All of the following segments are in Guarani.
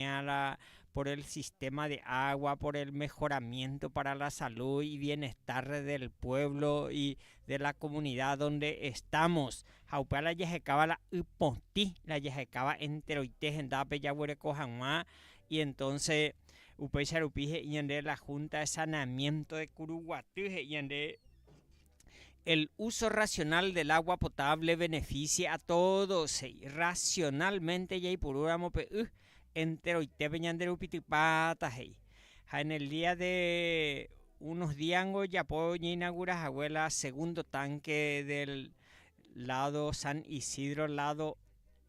oñe'ẽva la por el sistema de agua, por el mejoramiento para la salud y bienestar del pueblo y de la comunidad donde estamos. Ha upéva la jahekáva la y potĩ, la jahekáva enteroite hendápe jaguereko hag̃ua, y entonces upéicha rupi he'i ñande la Junta de Saneamiento de Curuguaty he'i ñande El uso racional del agua potable beneficie a todos, he'i, racionalmente jaipurúramo pe y enteroitépe ñanderupitypáta, he'i. Ha en el día de unos díango ojapo oñeinagura hague la segundo tanque del lado San Isidro lado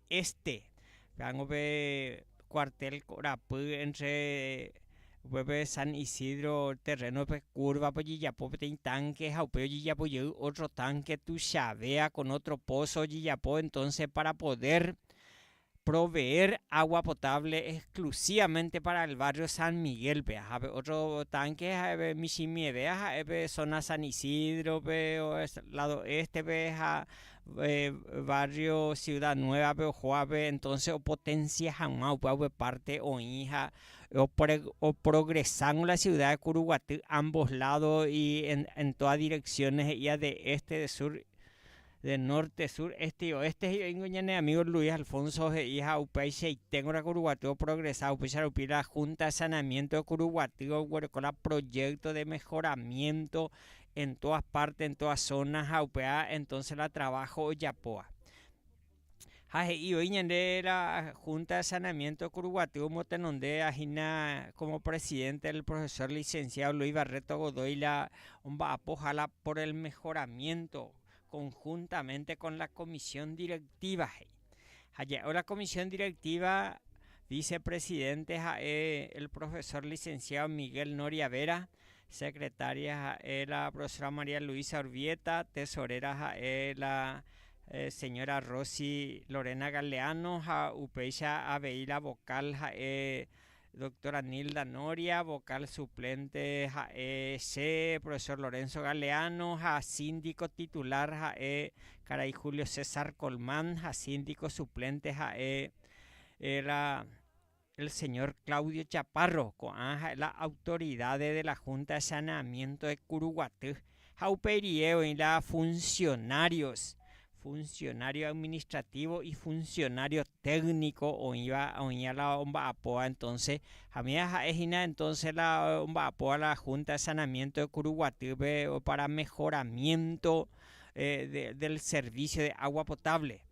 Este, rango pe cuartel korapy entre upépe San Isidro terreno-pe curva-pe ojejapo peteĩ tanque ha upéi ojejapo jey otro tanque tuichavea con otro pozo ojejapo entonce para poder proveer agua potable exclusivamente para el barrio San Miguel-pe ha pe otro tanque ha'e michĩmievea ha'e pe zona San Isidro-pe lado este-pe ha barrio Ciudad Nueva-pe ojoápe, entonces opotencia hag̃ua upe hague parte oĩ ha oprogresa con la ciudad de Curuguatỹ ambos lados y en todas direcciones he'ía de este, de sur, de norte, sur, este y oeste he'i oĩngo ñane amigo Luis Alfonso he'i ha upeichaite ngorã Curuguatỹ oprogresa, upéicha rupi la Junta de Saneamiento de Curuguatỹ oguereko la proyecto de mejoramiento, en todas partes, en todas zonas ha upéva entonces la trabajo ojapóva. Ha he'i voi ñande la Junta de Saneamiento Kuruguaty omotenondéva hína como presidente el profesor licenciado Luis Barreto Godoy la omba'apohála por el mejoramiento conjuntamente con la comisión directiva, he'i. Ha ja'évo la Comisión Directiva vicepresidente ha'e el profesor licenciado Miguel Noria Vera, secretaria ha'e la profesora María Luisa Urbieta, tesorera ha'e la señora Rosy Lorena Galeano ha upéicha avei la vocal ha'e Doctora Nilda Noria, vocal suplente ha'e che, profesor Lorenzo Galeano ha síndico titular ha'e karai Julio César Colmán ha síndico suplente ha'e la el señor Claudio Chaparro, ko'ã ha'e la autoridades de la Junta de Saneamiento de Curuguaty. ha upe rie oĩ la funcionarios, funcionario administrativo y funcionario técnico oĩva oĩva la omba'apóva entonce hamia ha'e hína entonce la omba'apóva la Junta de Sanamiento de Curuguatýpe para mejoramiento del servicio de agua potable.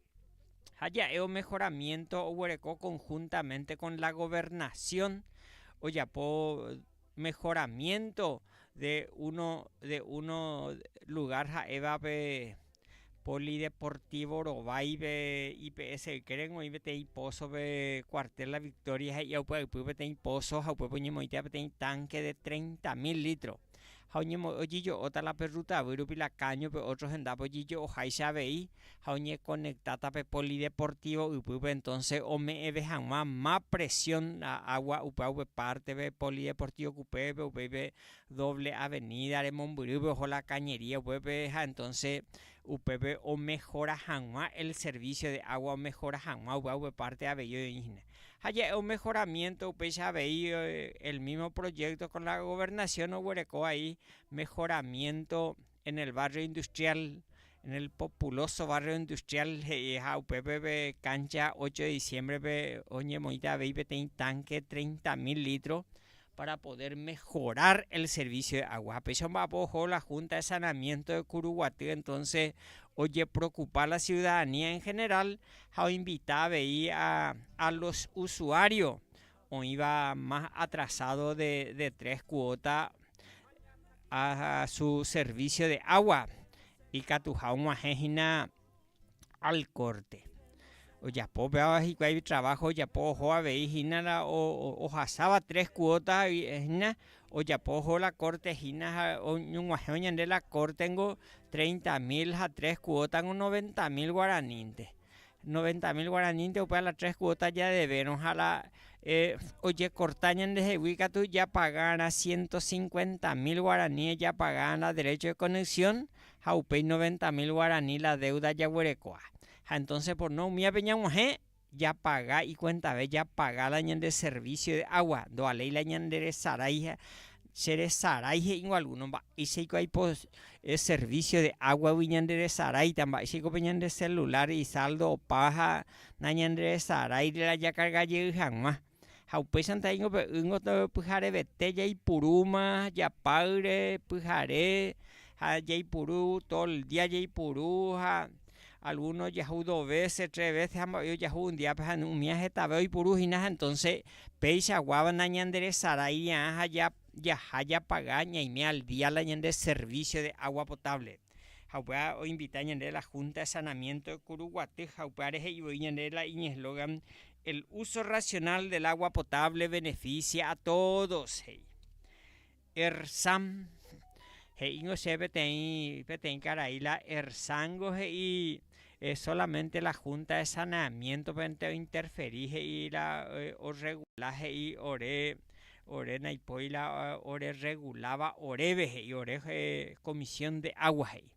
Ha ja'e omejoramiento oguereko conjuntamente con la Gobernación ojapo mehoramiénto de uno, de uno lugár ha'évape Polideportivo Rovaipe IPS ykére oĩ peteĩ pózope Cuartel La Victoria he'íva upyaypy peteĩ pózo ha upépe oñemoĩtia peteĩ tánke de treinta mil lítro. Ha oñemo'e ojejo'óta la pe rrutavýrupi la káñope ótro hendápe ojejo'o háicha avei, ha oñekonektáta pe polideportívo ypýpe, entónse ome'ẽve hag̃ua ma presión água upe água upe pártepe, polideportívo kupépe, upéipe dóvle avenída remombyrýpe oho la kañería upépe, ha entónse upépe omehora hag̃ua el servísio de água, omehora hag̃ua upe água upe párte avei oĩhína. Ha ja'e omehoramiénto upéicha avei el mísmo proyékto kon la governasión oguereko vai mehoramiénto. En el barrio industrial, en el populoso barrio industrial he'iha upépe pe cancha ocho de diciembre-pe oñemoĩta avei peteĩ tanque treinta mil litro para poder mejorar el servicio de agua. Péicha omba'apo oho la Junta de Sanamiento de Curuguaty entonces ojeprocupa la ciudadanía en general ha oinvita avei a los usuarios oĩva más atrasado de de tres cuota a su servicio de agua ikatuha og̃uahẽ hína al corte. Ojapo upéva hikuái trabajo ojapo oho avei hína la ohasáva tres cuota hína ojapo oho la corte hína ha oñog̃uahẽvo ñande la corte-ngo treinta mil ha tres cuota-ngo noventa mil guaranínte. Noventa mil guaranínte upe a la tres cuota jadevérõ ha la ojekorta ñandehegui katu japagárã ciento cincuenta mil guarani ejapagárã derecho de conexión ha upéi noventa mil guarani la deuda jaguerekóa. Ha entonces por no umíape ñag̃uahẽ japaga ikuentave japaga la ñande servicio de agua ndovaléi la ñanderesarái Che resarái he'íngo algúno, mba'éichaiko aipo servicio de águagui ñanderesaráita, mba'éichaikope ñande celulár isáldo opa ha nañanderesarái reajakarga jey hag̃ua. Ha upéicharanta he'íngo pe ýngo pyharevete jaipurúma japáyre pyhare ha jaipuru tol día jaipuru ha Algúno ojahu do vése, tres vése ha mba'e ojahu un díape ha umi año hetave oipuru hína ha entónse peichaguáva nañanderesaráivia'ã ha jaha japaga ñaime al día la ñande servísio de água potáble. Ha upéva oinvita ñandéve la Húnta de Sanamiénto de Kuruguaty ha upévare he'i voi ñandéve la iñeslógan El úso racional del agua potable benefisia a tódos, he'i. Erzán, he'íngo che peteĩ, peteĩ karai la Erzángo he'i, eh, solamente la Junta de Saneamiéntope-nte ointerferi he'i la orregula he'i ore, ore naipóri la orerreguláva oréve he'i, ore Comisión de Agua he'i.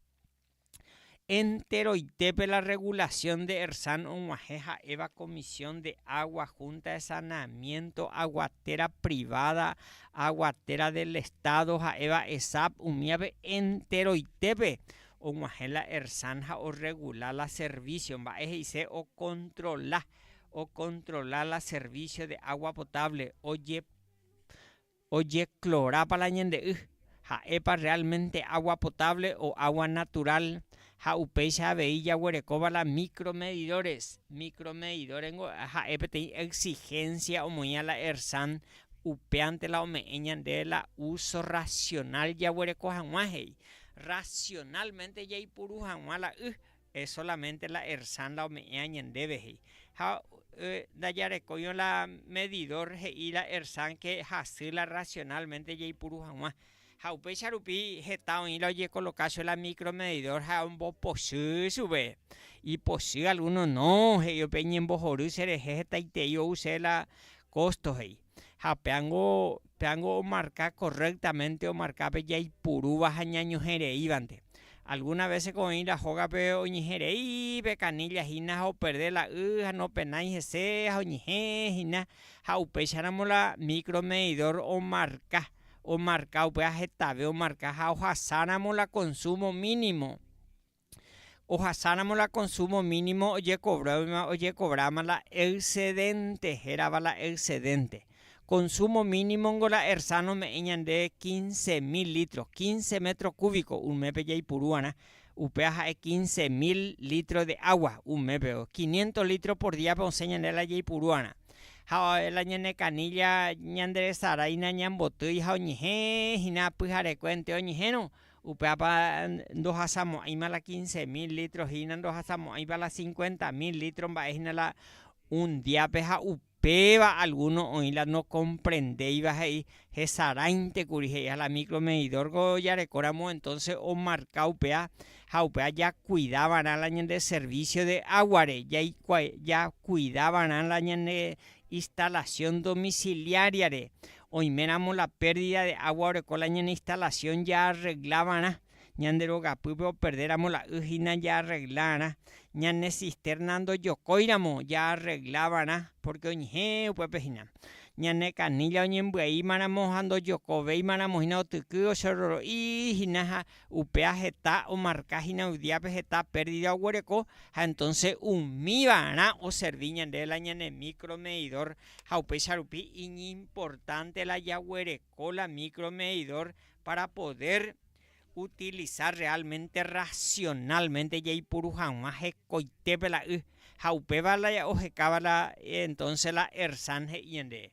Enteroitépe la regulación de Ersan og̃uahẽ ha'éva Comisión de Agua, Junta de Saneamiento, Aguatera Privada, Aguatera del Estado ha'éva Esap, umívape enteroitépe og̃uahẽ la Ersan ha orregula la servicio, mba'e he'ise ocontrola, ocontrola la servicio de agua potable, oje, Ojeklorápa la ñande y? Ha'épa realmente agua potable o agua natural? Ha upéicha avei jaguerekóva la micromedidores. Micromedidores niko ha'e peteĩ exigencia omoĩva la ERSAN, upévante la ome'ẽ ñande la uso racional jaguereko hag̃ua he'i. Racionalmente jaipuru hag̃ua la y E solamente la Ersan la ome'ẽa ñandéve, he'i. Ha ndajarekóirõ la medidor he'i la Ersan ke hasy la racionalmente jaipuru hag̃ua. Ha upéicha rupi heta oĩ la ojekoloka cho la micromedidor ha ombopochy chupe. Ipochy alguno no, he'i upe ñembohory cherehe hetaitei ou che la costo, he'i. ha péango, péango omarka correctamente omarka pe jaipurúva ha ñañohẽreívante. Alguna véseko oĩramo hógape oñeherei pe canilla hína ha operde la y ha nopenái hese ha oñehẽ hína ha upéicharamo la micromedidor omarka, omarka upéva hetave omarka ha ohasáramo la consumo mínimo. Ohasáramo la konsúmo mínimo ojekovróima ojekovráma la excedenté, hérava la excedenté. Konsúmo mínimongo la Ersán ome'ẽ ñande quince mil lítro, quince métro kúviko un mépe jaipuru'arã, upéva ha'e quince mil lítro de água un mépe, quinientos lítro por díape osẽ ñande la jaipuru'arã. Ha la ñane kanílla ñanderesaráina ñambotýi ha oñehẽ hína pyharekue entéro oñehẽrõ. Upévapa ndohasamo'ãima la quince mil lítro hína ndohasamo'ãipa la cincuenta mil lítro mba'e hína la un diápe ha upéva algúno oĩ la nokomprendéiva he'i hesaráinte kuri he'i ha la micromedidórko jarekóramo entónse omarka upéva ha upéva jakuida va'erã la ñande servísio de águare, jaikuaa, jakuida va'erã la ñande instalasión domisiliáriare Oiméramo la pérdida de agua oreko la ñane instalación jaarregla va'erã, ñande rogapýpe operdéramo la y hína jaarregla'arã, ñane cisterna ndojokóiramo jaarregla va'erã porque oñehẽ upépe hína, ñane canilla oñembyaímaramo ha ndojokovéimaramo hína otyky ocherroro'i hína ha upéva heta omarka hína yvdiápe heta pérdida oguereko ha entonce umi va'erã oservi ñandéve la ñane micro medidor ha upéicha rupi iñimportánte la jaguereko la micromedidor pára podér utilisa rreálmente rrasionálmente jaipuru hag̃ua hekoitépe la y ha upéva la ohekáva entónse la Ersan he'i ñandéve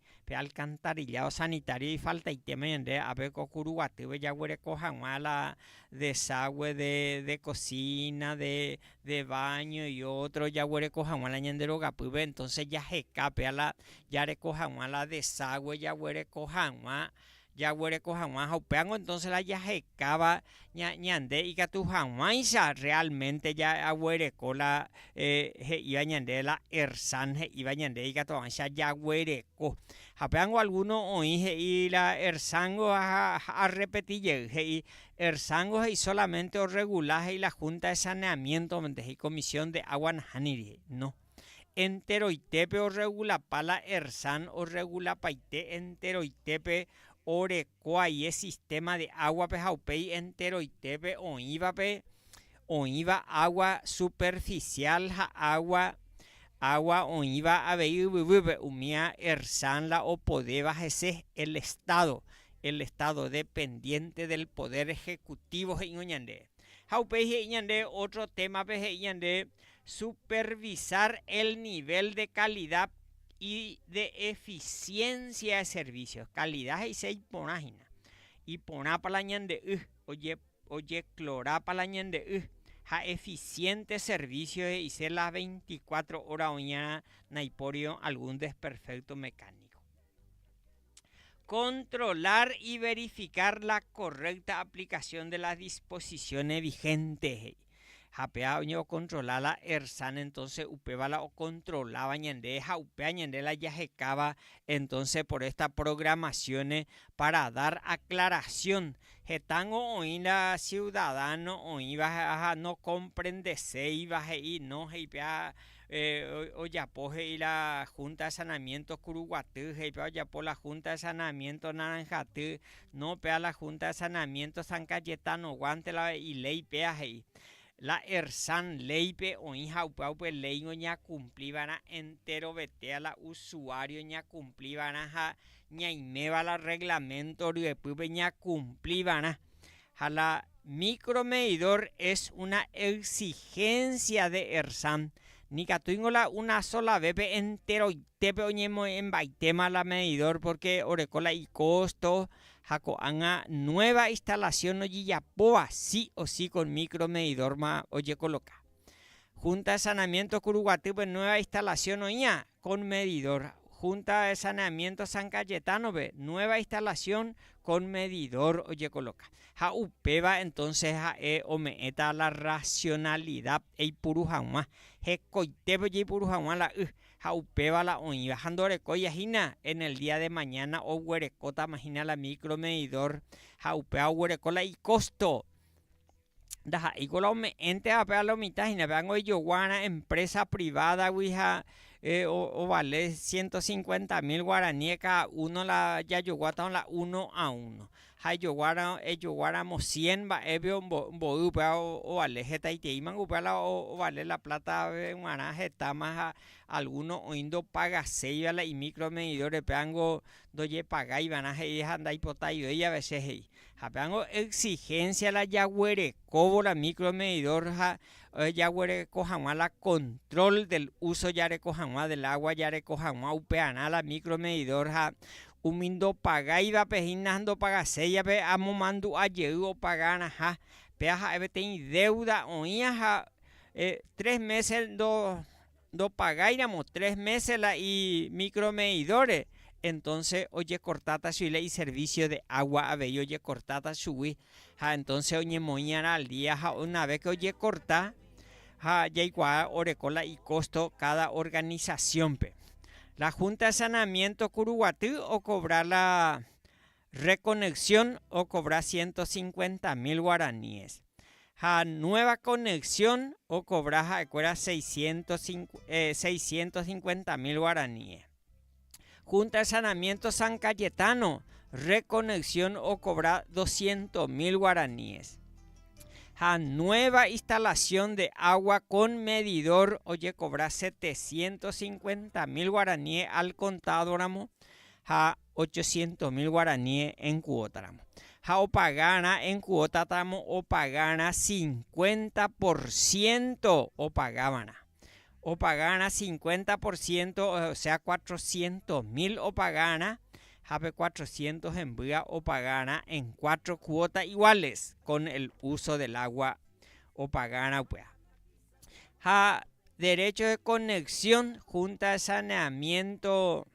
Pe alcantarilla osanitario ifaltaitéma ñande ape ko kuru guatýpe jaguereko hag̃ua la desague de cocina, de baño y otro jaguereko hag̃ua la ñande rogapýpe entonces jaheka péa la jareko hag̃ua la desague jaguereko hag̃ua Jaguereko hag̃ua ha upévango entonces la jahekáva ñande ikatu hag̃uáicha realmente jaguereko la he'íva ñande la Ersan he'íva ñande ikatu hag̃uáicha jaguereko. Ha upévango alguno oĩ he'i la Ersángo ha arrepeti jey he'i Ersángo he'i solamente orregula he'i la Junta de saneamiento-pe he'i comisión de agua nahániri he'i, no. enteroitépe orregulapa la Ersan orregulapaite enteroitépe oreko aie sistema de águape ha upéi enteroitépe oĩvape oĩva água superficial ha água água oĩva avei yvyguýpe umi a Ersan la opodéva hese el Estado el Estado dependiente del poder ejecutivo he'ingo ñande ha upéi he'i ñande otro témape he'i ñande supervisar el nivel de calidad y de eficiencia de servicios. Calidad he'ise iporã hína. Iporãpa la ñande y, ojeclorápa la ñande y, ha eficiente servicio he'ise las 24 horas oĩarã naipóri algún desperfecto mecánico. Controlar y verificar la correcta aplicación de las disposiciones vigentes he'i. Ha péva oñe'okontrola la Ersan, entonce upéva la okontroláva ñande ha upéva ñande la jahekáva, entonce por esta programación para dar aclaración, hetángo oĩ la ciudadano oĩva ha nokomprendeséiva he'i no he'i péva ojapo he'i la Junta de Sanamiento Kuruguaty, he'i péva ojapo la Junta de Sanamiento Naranjaty, No pea la Junta de Saneamiento San Cayetano guante la iléi péa he'i, la Ersan léipe oĩ ha upéagupe léingo ñakumpli va'erã enterovetéa la usuario ñakumpli va'erã ha ñaiméva la reglamento ryepýpe ñakumpli va'erã ha la Micromedidor es una exigencia de Ersam, nikatúingo la una sola vépe enteroitépe oñemoñembaitéma la medidor porque oreko la icosto ha ko'ág̃a nueva instalación ojejapóva sí o sí con micromedidor-ma ojekoloka. Junta de Saneamiento Kuruguatýpe nueva instalación oĩva con medidor, Junta de Saneamiento San Cayetano-pe nueva instalación con medidor ojekoloka. Ha upéva entonces ha'e ome'ẽta la racionalidad eipuru hag̃ua, hekoitépe ojeipuru hag̃ua la y ha upéva la oĩva. Ha ndorekóiahína en el día de mañana oguerekótamahína la micromedidor ha upéva oguereko la icosto. ndaha'éiko la ome'ẽntevape a lo mitã hína, pévanga oijoguárã empresa privada-gui ha ovale ciento cincuenta mil guaraníes cada uno la jajoguátava la uno a uno, ha ejoguára, ejoguáramo cien mba'épe mboy upéva ovale hetaiteímango upéva la ovale la plata-pe g̃uarã hetáma ha alguno oĩ ndopagaseiva la imicro medidores pévango ndojepagáivarã he'i ha ndaipotaivéi a vece he'i. Ha péango exigencia la jaguerekóvo la micromedidor ha jaguereko hag̃ua la control del uso jareko hag̃ua del agua jareko hag̃ua upearã la micromedidor ha umi ndopagáivape hína ndopagaséi ape amomandu'a jey opagarãha péa ha'e peteĩ deuda oĩva ha tres meses ndo ndopagáiramo tres mése la imicromedidóre, entónse ojekortáta chuguila iservísio de água avei ojekortáta chugui. Ha entónse oñemoĩ'arã al día ha una ves ke ojekorta ha jaikuaa oreko la ikósto káda organisasiónpe. La Húnta de Sanamiénto Kuruguaty okovra la Reconexión okobra ciento cincuenta mil guaraníes, ha Nueva Conexión okobra ha'ekuéra seiscientos cincuenta mil guaraníes. Junta de Sanamiento San Cayetano, Reconexión okobra doscientos mil guaraníes. Ha Nueva Instalación de Agua con Medidor ojekobra setecientos cincuenta mil guaraníes al contado ramo, ha ochocientos mil guaraníes en cuota ramo. Ha opagarã en cuota ramo opagarã cincuenta por ciento opagávarã. Opagarã cincuenta por ciento, o sea, cuatrocientos mil opagarã ha pe cuatrocientos hembýa opagarã en cuatro cuotas iguales con el uso del agua opagarã upéva. Ha derecho de conexión, junta de saneamiento,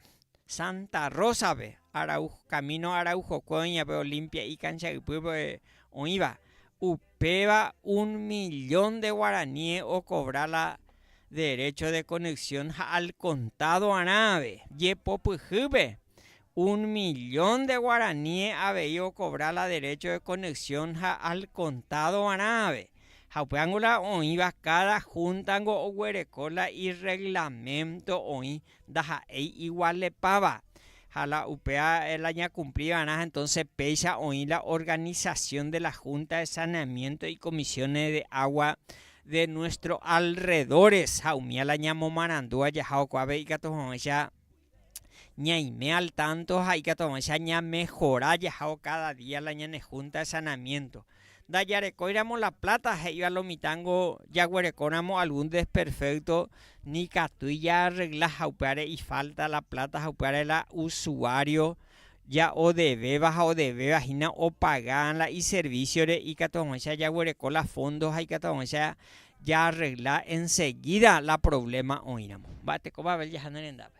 Santa Rosa-pe, Arauj, camino Araujokue oĩvape Olimpia ikancha ypýpe oĩva, upéva un millón de guaraníe okobra la derecho de conexión ha al contado arãve, jepopyhýpe, un millón de guaraníe avei okobra la derecho de conexión ha al contado arãve, ha upe ángulo oĩva cada junta-ngo oguereko la irreglamento oĩ Ndaha'éi igualepáva. Ha la upéva la ñakumpli va'erã entónse péicha oĩ la organisasión de la Junta de Saneamiento y Comisiones de Agua de nuestro alrededores ha umía la ñamomarandúva jahaokuápe ikatu hag̃uáicha ñaime al tanto ha ikatu hag̃uáicha ñamehora jahávo káda día la ñane Junta de Saneamiento. Ndajarekóiramo la pláta he'íva lo mitãngo jaguerekóramo algún desperfékto nikatúi jaarregla ha upévare ifálta la pláta ha upévare la usuário ja'odevéva ha odevéva hína opaga la iservísiore ikatu hag̃uáicha jaguereko la fóndo ha ikatu hag̃uáicha jaarregla ensegída la provléma oĩramo. Mba'eteko Babel jaha ne rendápe.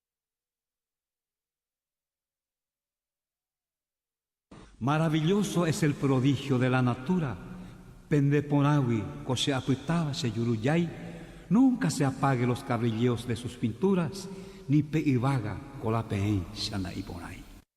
Maravilloso es el prodigio de la natura, pende porãgui ko che apytáva che jurujái, nunca se apague los cabrilleos de sus pinturas, ni pe yvága ko la peẽicha nda'iporãi.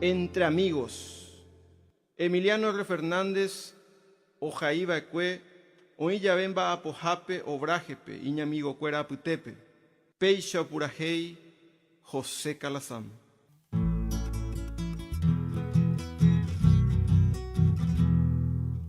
Entre amigos, Emiliano R. Fernández ojai va'ekue oĩ jave mba'apohápe obraje-pe iñamigokuéra apytépe, péicha opurahéi José Calazán.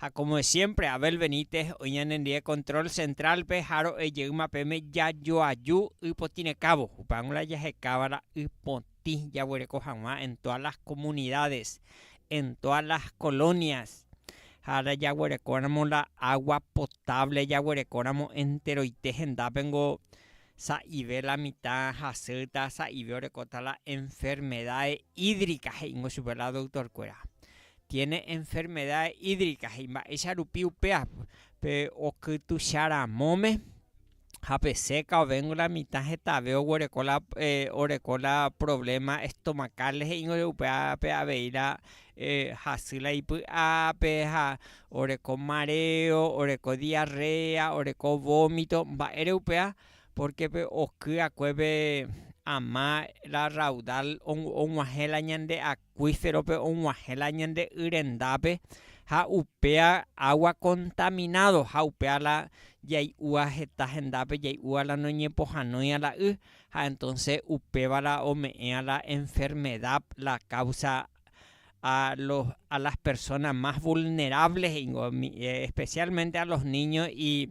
Ha como de siempre, Abel Benítez oĩ ñanendie control central-pe ha ro'e jeýma peme jajoaju y potĩ rekávo. Upehague g̃uarã jahekáva la y potĩ jaguereko hag̃ua en todas las comunidades, en todas las colonias. Ha la jaguerekóramo la agua potable jaguerekóramo enteroite hendápe ngo sa'ive la mitã hasýta, sa'ive orekóta la enfermedades hídricas he'íngo chupe la doctor-kuéra. tiene enfermedad hídrica ha imba'éicha rupi upéva pe okytucha ramóme ha pe seca ovéngo la mitã hetave oguereko la oreko la problema estomacal he'íngo upévape avei la hasy la ipy'ápe ha oreko mareo, oreko diarrea, oreko vómito mba'ére upéva porque pe oky va'ekue pe ama la raudal og̃uahẽ la ñande akã acuíferope og̃uahẽ la ñande y rendápe ha upéa agua contaminado ha upéa la jai'úa heta hendápe jai'úa la noñepohãnoi'a la y ha entonce upéva la ome'ẽa la enfermedad la causa a las personas más vulnerables he'ingo especialmente a los niños y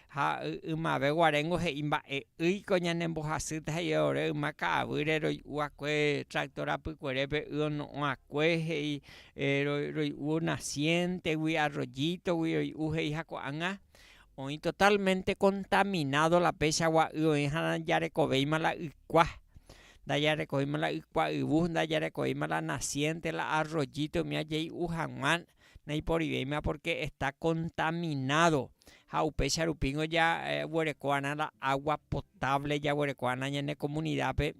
Ha ymave guaréngo he'i mba'e'ỹi ko ñane mbohasýta he'íva ore yma ka'avýre roi'uakue tractor apykuerépe y ono'õakue he'i roi'u nacientegui, arroyítogui roi'u he'i ha ko'ág̃a oĩ totalmente contaminado la péicha gua'y oĩha najarekovéima la ykua, ndajarekovéima la ykua yvu, ndajarekovéima la naciente, la arroyito umi ajei'u hag̃ua Naiporiveiméma pórke esta kontaminádo ha upéicha rupíngo jaguereko va'erã la água potávle jaguereko va'erã ñane komunidápe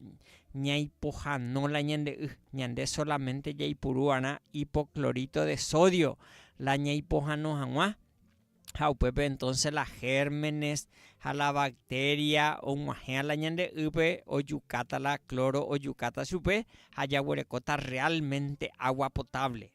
ñaipohano la ñande y. Ñande solamente jaipuru va'erã ipokloríto de sódio la ñaipohano hag̃ua. ha upépe entonce la gérmenes ha la bacteria og̃uahẽva la ñande ýpe ojukáta la cloro ojukáta chupe ha jaguerekóta realmente agua potable.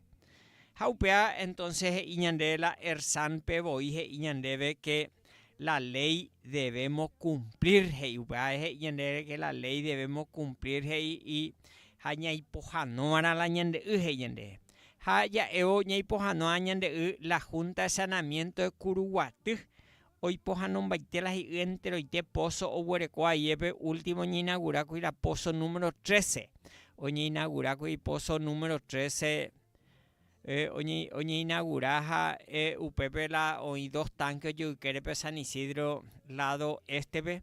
Ha upéva entonce he'i ñande la Ersanpe voi he'i ñandéve que la ley debemos cumplir he'i upéva he'i ñandéve que la ley debemos cumplir he'i y ha ñaipohãnova'erã la ñande y he'i ñandéve. ha ja'évo ñaipohanoa ñande y la Junta de Saneamiento de Curuguaty oipohanombaite la hi'y enteroite pozo oguereko aiépe último ñeinagurákuri la pozo número 13 oñeinagurákuri pozo número 13 oñeinagura ha upépe la oĩ dos tanque ojoykerépe San Isidro lado éstepe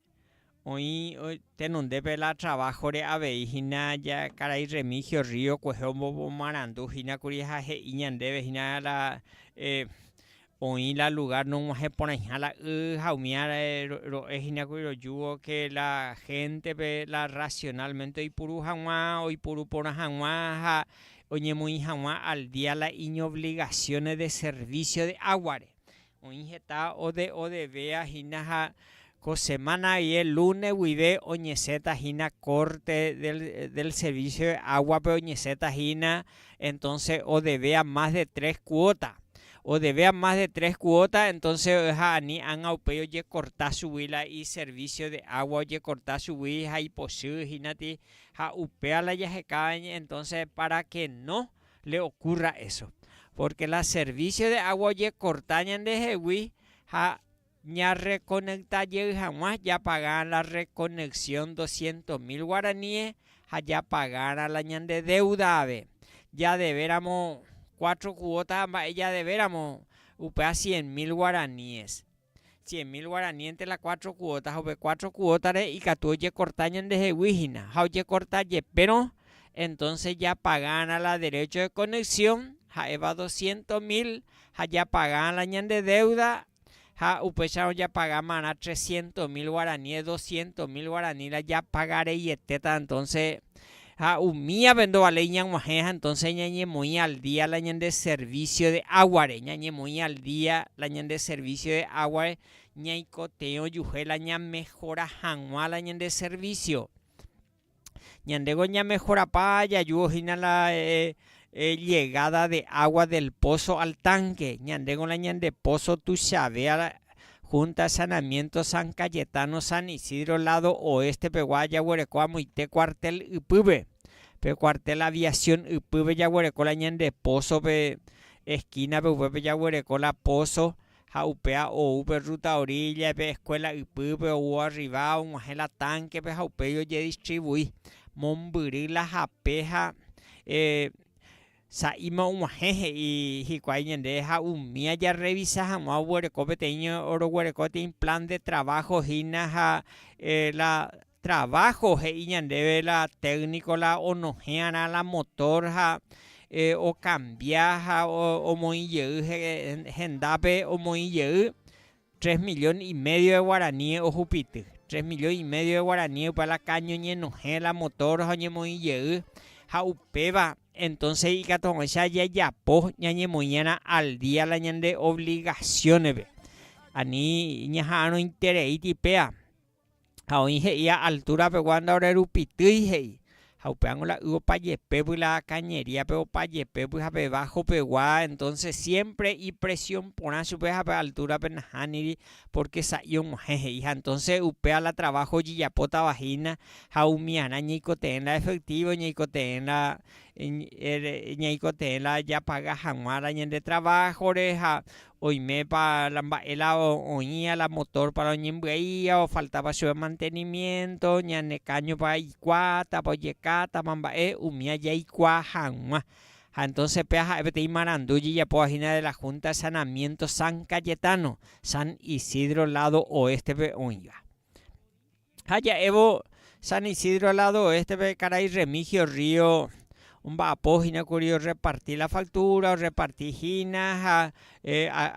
Oĩ tenondépe la traváhore avei hína karai Remigio Río kuehe omomarandu hína kuri ha he'i ñandéve hína la oĩ la lugár nog̃uahẽ porãiha la y ha umíva ro'e hína kuri rojúvo ke la héntepe la rasionálmente oipuru hag̃ua, oipuru porã hag̃ua ha oñemoĩ hag̃ua al día la iñovligasiónes de servísio de águare. Oĩ heta ode odevea hína ha ko semana aie lune guive oñeseta hína corte del servicio de agua pe oñeseta hína entonce odevea más de tres cuota, odevea más de tres cuota entonce oeha ani anga upéi ojecorta chugui la i servicio de agua ojecorta chugui ha ipochy hína ti ha upéva la jaheka entonce para que no le okurra eso, pórke la servísio de água ojekorta ñandehegui ha ñarrekonekta jey hag̃ua japaga la rrekoneksion doscientos mil guaraníe ha japagárã la ñande déuda ave. Jadevéramo cuatro kuóta ha mba'e jadevéramo, upéva cien mil guaraníes. Cien mil guarani entre la cuatro cuota, ha upe cuatro cuota-re ikatu ojekorta ñandehegui hína, ha ojekorta jepérõ, entonce japagárã la derecho de conexión, ha'éva doscientos mil, ha japagárã la ñande deuda, ha upéicharõ japagámarã trescientos mil guarani, doscientos mil guarani la japagareietéta entonce, Ha umívape ndovaléi ñag̃uahẽ ha entonces ñañemoĩ al día la ñande servicio de águare, ñañemoĩ al día la ñande servicio de águare ñaikotevẽ ojuhe la ñamehora hag̃ua la ñande servicio. Ñandéko ñamehorapa jajugo hína la llegada de agua del pozo al tanque, ñandéko la ñande pozo tuichave Junta Saneamiento San Cayetano San Isidro lado oeste pegua jaguereko amoite cuartel ypýpe. Pe cuartel Aviación ypýpe jaguereko la ñande pozo pe esquina pe upépe jaguereko la pozo ha upéa ou pe ruta orilla pe escuela ypýpe ou arriba oguahẽ la tanque pe ha upéi ojedistribui mombyry la hape ha eh, Sa'íma og̃uahẽ he'i hikuái ñande ha umi ajarrevisa hag̃ua oguereko peteĩ oroguereko peteĩ plan de trabajo hína ha la trabajo he'i ñandéve la técnico la onohẽ'arã la motor ha okambia ha omoĩ jey hendápe omoĩ jey Tres millón y medio de guaraníes ohupity, tres millón y medio de guaraníes upe la caña oñenohẽ, la motor ha oñemoĩ jey, ha upéva entonces ikatu hag̃uáicha jajapo ñañemoĩ'arã al día la ñande obligación-pe, ani ñaha'arõitereíti péva. ha oĩ he'i a altúra pegua ndaorerupitýi he'i, ha upévango la y opa jepépy la kañeríape opa jepépy ha pe bájo pegua, entónse siémpre ipresión porã chupe ha pe altúrape nahániri, pórke sa'i og̃uahẽ he'i, ha entónse upéva la traváho ojejapótava hína ha umi arã ñaikotevẽ la efektívo, ñaikotevẽ la, ñaikotevẽ la japaga hag̃uára ñande traváhore ha Oimépa la mba'e la oĩva la motor para oñembyaíva, ofaltápa chupe mantenimiento, ñane káñopa ikuaátapa, ojekátapa mba'e, umi ajaikuaa hag̃ua. Ha entonces péa ha'e peteĩ marandu ijejapóva hína de la Junta de Sanamiento San Cayetano, San Isidro lado oeste-pe oĩva. Ha ja'évo San Isidro lado oeste-pe karai Remigio Río omba'apo hína kuri orreparti la factura, orreparti hína ha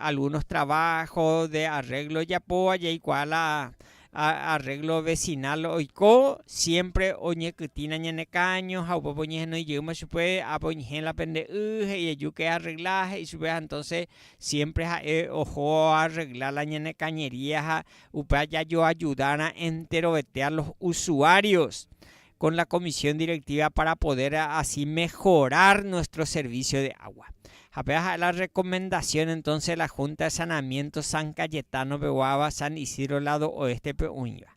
algunos trabajo de arreglo ojapóva jaikuaa la arreglo vecinal oiko, siempre oñekytĩna ñane káño ha upépe oñehenói jeýma chupe, ápe oñehẽ la pende y, he'i eju ke arregla, he'i chupe ha entonces siempre ha'e oho oarregla la ñane cañería ha Upéva jajoajudárã enterovete a los usuarios con la comisión directiva para poder así mejorar nuestro servicio de agua. Ha péva ha'e la recomendación entonces la Junta de Saneamiento San Cayetano peguáva San Isidro lado oeste-pe oĩva.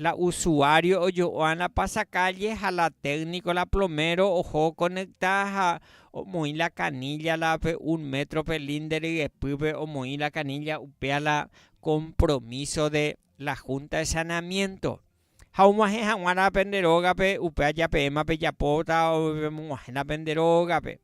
La usuario ojo'oa la pasakálle ha la técnico la plomero oho okonekta ha omoĩ la canilla la pe un metro pe linde ryepýpe omoĩ la canilla upéa la compromiso de la junta de saneamiento ha oguahẽ haguã la pende rógape upéa japeẽma pejapóta pemog̃uahẽ la pende rógape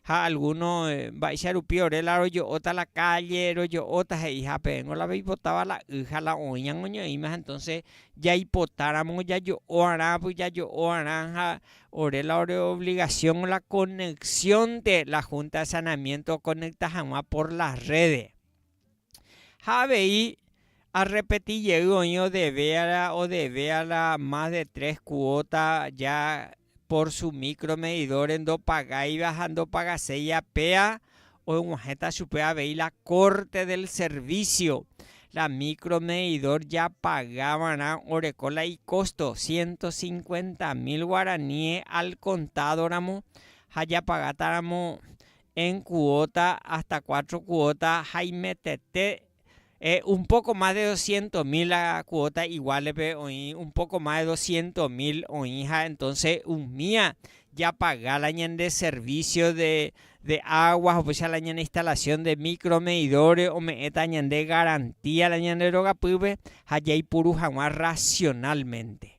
ha algúno mba'éicha rupi ore la rojo'óta la kálle, rojo'óta he'i ha peẽngo la peipotáva la y ha la oĩ ñañoñe'ẽimaha. Entónse jaipotáramo jajo'oarã pyjajo'oarã ha ore la ore ovligasión la konexionte la Húnta de Sanamiénto okonekta hag̃ua por la rréde. Ha avei arrepeti jey oĩ odeve odeve a la más de tres kuóta ja Por su micro medidores ndopagáiva ha ndopagaséi apea, oguahẽta chupe avei la corte del servicio. La micro medidor japaga va'erã oreko la icosto ciento cincuenta mil guaraníes al contado ramo ha japagáta ramo en cuota hasta cuatro cuota ha imetete Un poco más de doscientos mil la cuota igual-pe oĩ un poco más de doscientos mil oĩ ha entonces umía japaga la ñande servicio de agua upéicha la ñane instalación de micro medidores ome'ẽta ñande garantía la ñande rogapýpe ha jaipuru hag̃ua racionalmente.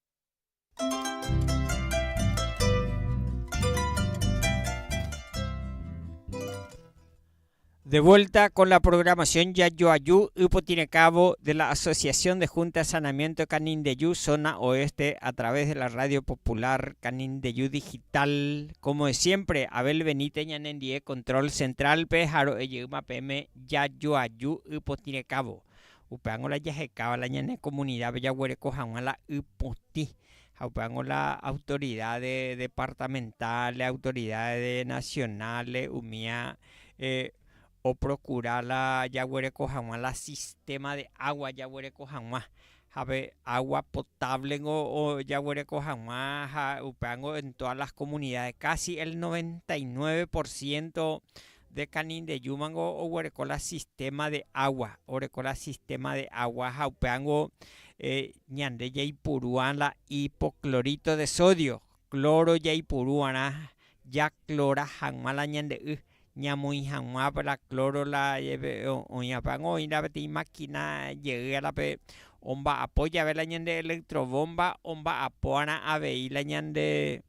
De vuelta con la programación Yayoayú Ypotirecavo de la Asociación de Junta de Saneamiento de Canindeyú, zona oeste, a través de la Radio Popular Canindeyú Digital. Como de siempre, Abel Benítez Ñanendie, Control Central, pe Jaro Eyeuma PM Yayoayú Ypotirecavo. Upévango la jahekáva la ñane komunidápe jaguereko hag̃ua la y potĩ, ha upévango la autoridáde departamentál, autoridáde nasionál umi oprokura la jaguereko hag̃ua la sistéma de água jaguereko hag̃ua. Ha pe água potávlengo jaguereko hag̃ua ha upévango en tóda las komunidáde, kási el noventa i nueve por siénto De Canindeyú mango oguereko la sistema de agua, oreko la sistema de agua ha upéango ñande jaipuru'ã la hipoclorito de sodio, cloro jaipuru va'erã jaklora hag̃ua la ñande y, ñamoĩ hag̃ua la cloro la oĩ apéango oĩ la peteĩ máquina jey árape omba'apo jave la ñande electro bomba omba'apo va'erã avei la ñande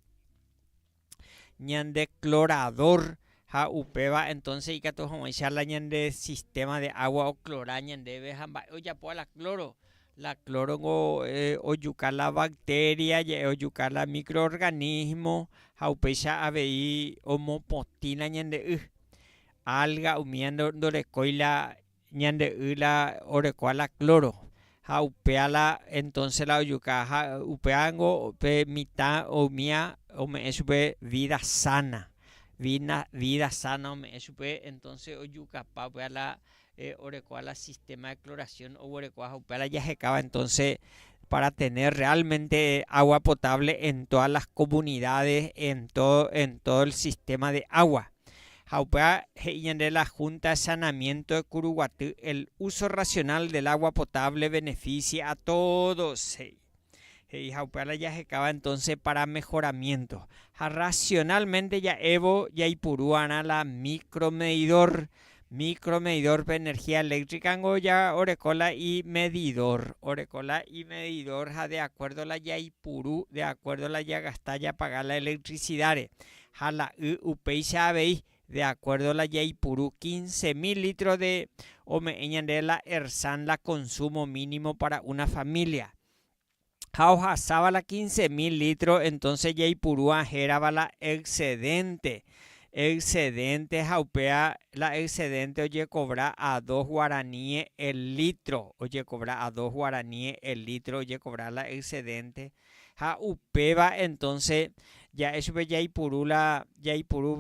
ñande clorador ha upéva entonce ikatu hag̃uáicha la ñande sistema de agua oclora ñandéve ha mba'e ojapóva la cloro, la cloro niko ojuka la bacteria je'e ojuka la micro organismo ha upéicha avei omopotĩla ñande y, alga umíva ndorekói la ñande y la orekóa la cloro ha upéa la entonce la ojuka ha upéa ngo pe mitã oimía ome'ẽ chupe vida sana vina vida sana ome'ẽ chupe entonce ojukapa upéa la orekóa la sistema de cloración oguerekóa ha upéa la jahekáva entonce para tener realmente agua potable en todas las comunidades en todo en todo el sistema de agua Ha upéva he'i ñande la Junta de Saneamiento de Curuguaty el uso racional del agua potable beneficie a todos, he'i. He'i ha upéva la jahekáva entonce para mejoramiento. Ha racionalmente ja'évo jaipurúarã la micromedidor, micromedidor-pe energía eléctrica-ngo ja oreko la imedidor, oreko la imedidor ha de acuerdo la jaipuru, de acuerdo la jagasta japaga la electricidad-re. ha la y upéicha avei, de acuerdo la jaipuru quince mil litros de ome'ẽ ñande la Ersan la consumo mínimo para una familia. Ha ohasáva la quince mil litros entonces jaipuru ahérava la excedente, excedente ha upéva la excedente ojecobra a dos guaraníes el litro, ojecobra a dos guaraníes el litro ojecobra la excedente, Ha upéva entonce ja'e chupe jaipuru la jaipuru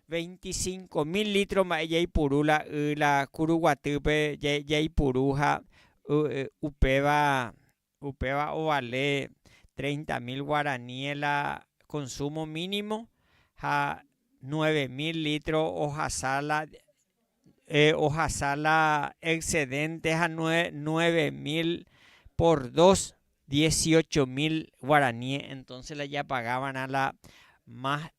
veinticinco mil litro mba'e jaipuru la y la kuru guatýpe jaipuru ha upéva upéva ovale treinta mil guaraníes la consumo mínimo ha nueve mil litro ohasa la ohasa la excedente ha nueve mil por dos, dieciocho mil guarani, entonces la japagávarã la más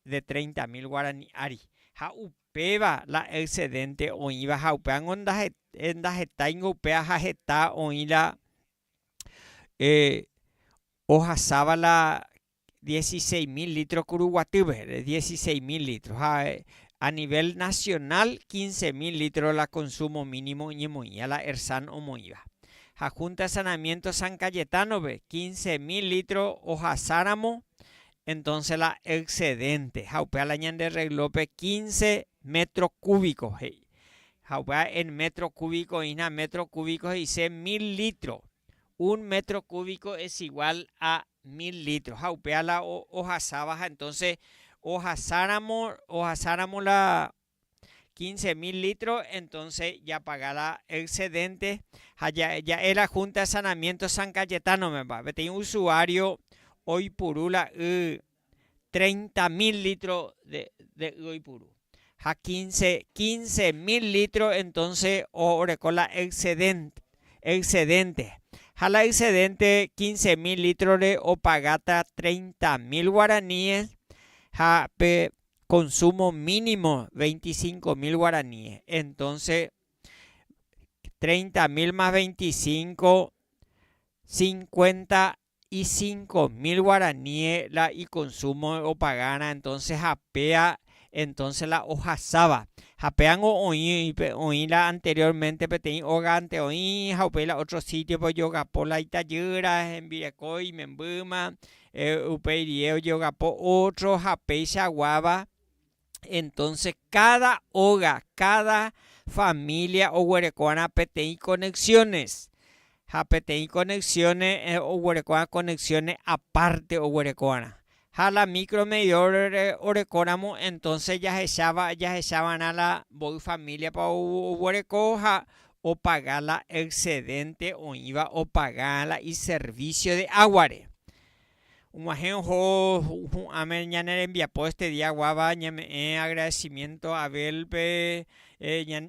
de treinta mil guarani ári. Ha upéva la excedente oĩva ha upévango ndahetáingo upéva ha heta oĩ la ohasáva la dieciséis mil litro ku ruguatýpe de dieciséis mil litro ha a nivel nacional quince mil litro la consumo mínimo oñemoĩva la ERSAN omoĩva. Ha Junta de Saneamiento San Cayetano-pe quince mil litro ohasáramo entonce la excedente ha upéva la ñande reglópe quince metro cúbico he'i. Ha upéva en metro cúbico oĩhína metro cúbico he'ise mil litro. Un métro kúviko es igual a mil lítro, ha upéva la ohasáva ha entónse ohasáramo, ohasáramo la quince mil lítro, entónse japaga la exedénte ha ja'e la Húnta de Sanamiénto San Cayetánome peteĩ usuário oipuru la y treinta mil litro de, de y oipuru. Ha quince, quince mil litro entonce oreko la excedente, excedente. Ha la excedente quince mil litro re opagata treinta mil guaraníes ha pe consumo mínimo veinticinco mil guaraníes. Entonces treinta mil más veinticinco, cincuenta y cinco mil guaraníe la ikonsúmo opagárã entonce ha péa entonce la ohasáva. Ha péango oĩ oĩ la anteriormente peteĩ ógante oĩ ha upéi la ótro sítiope ojogapo la itajýra hembireko imembýma, upéi rie ojogapo ótro ha péicha guáva, Entonces cada óga, cada familia oguerekoarã peteĩ conexiones, ha peteĩ conexiones oguerekoarã conexiones aparte oguerekoarã. Ha la micro medidor orekóramo entonces jahecháva, jahechava'erã la mboy familia-pa oguereko ha opaga la excedente oĩva opaga la iservicio de agua-re. Og̃uahẽ oho hu'ãme ñane rembiapo este día guáva ñame'ẽ agradecimiento a Abel-pe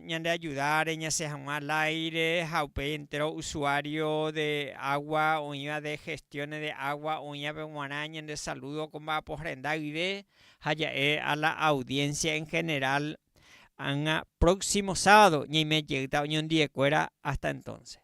ñande ajuda reñasẽ hag̃ua al aire ha upéi entero usuario de agua oĩva de gestiones de agua oĩvape g̃uarã ñande saludo ko mba'apo renda guive ha ja'e a la audiencia en general ág̃a próximo sábado ñaime jeýta oñondive kuéra hasta entonces.